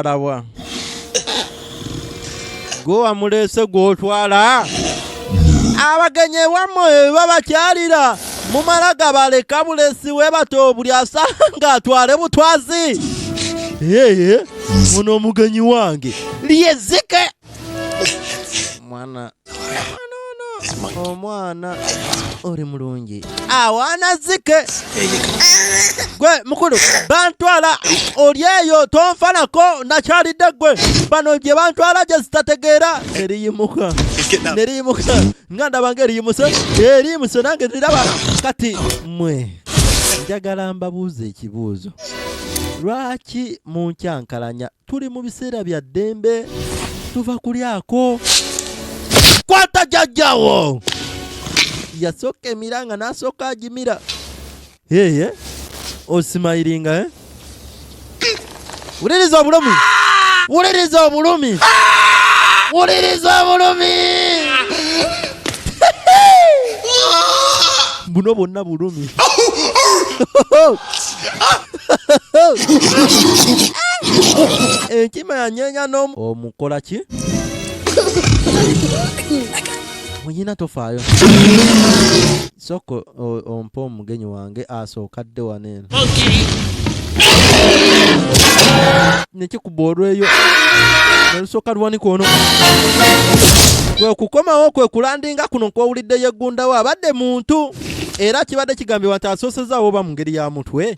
alabwa gwe wamuleese gw'otwala abagenyi ewammwe eba bakyalira mumala gabaleka bulesi webata obuli asanga atwale butwazi eye muno omugenyi wange lyezike mwana omwana oli mulungi awaana zike gwe mukulu bantwala oli eyo tonfanako nakyalidde gwe bano gye bantwala gye zitategeera neriyimuka neriyimuka nga ndaba nga eriyimuse eriyimuse nange niraba kati mwe njagala mbabuuza ekibuuzo lwaki munkyankalanya tuli mu biseera bya ddembe tuva kulyako kwata jajjawo yasooka emira nga n'asooka agimira yeye osimayiringa eh? wuliriza obulumi wuliriza obulumi wuliriza obulumi buno bwonna bulumi enkima yanyeenya n'omu omukola ki muyina tofaayo sooka ompa omugenyi wange asooka dde wano eno nekikuba olweyo nelusooka luwanika ono kwe kukomawo kwe kulandinga kuno nkwowulidde yeggundawo abadde muntu era kibadde kigambibwa nti asoosezaawo oba mu ngeri ya mutwe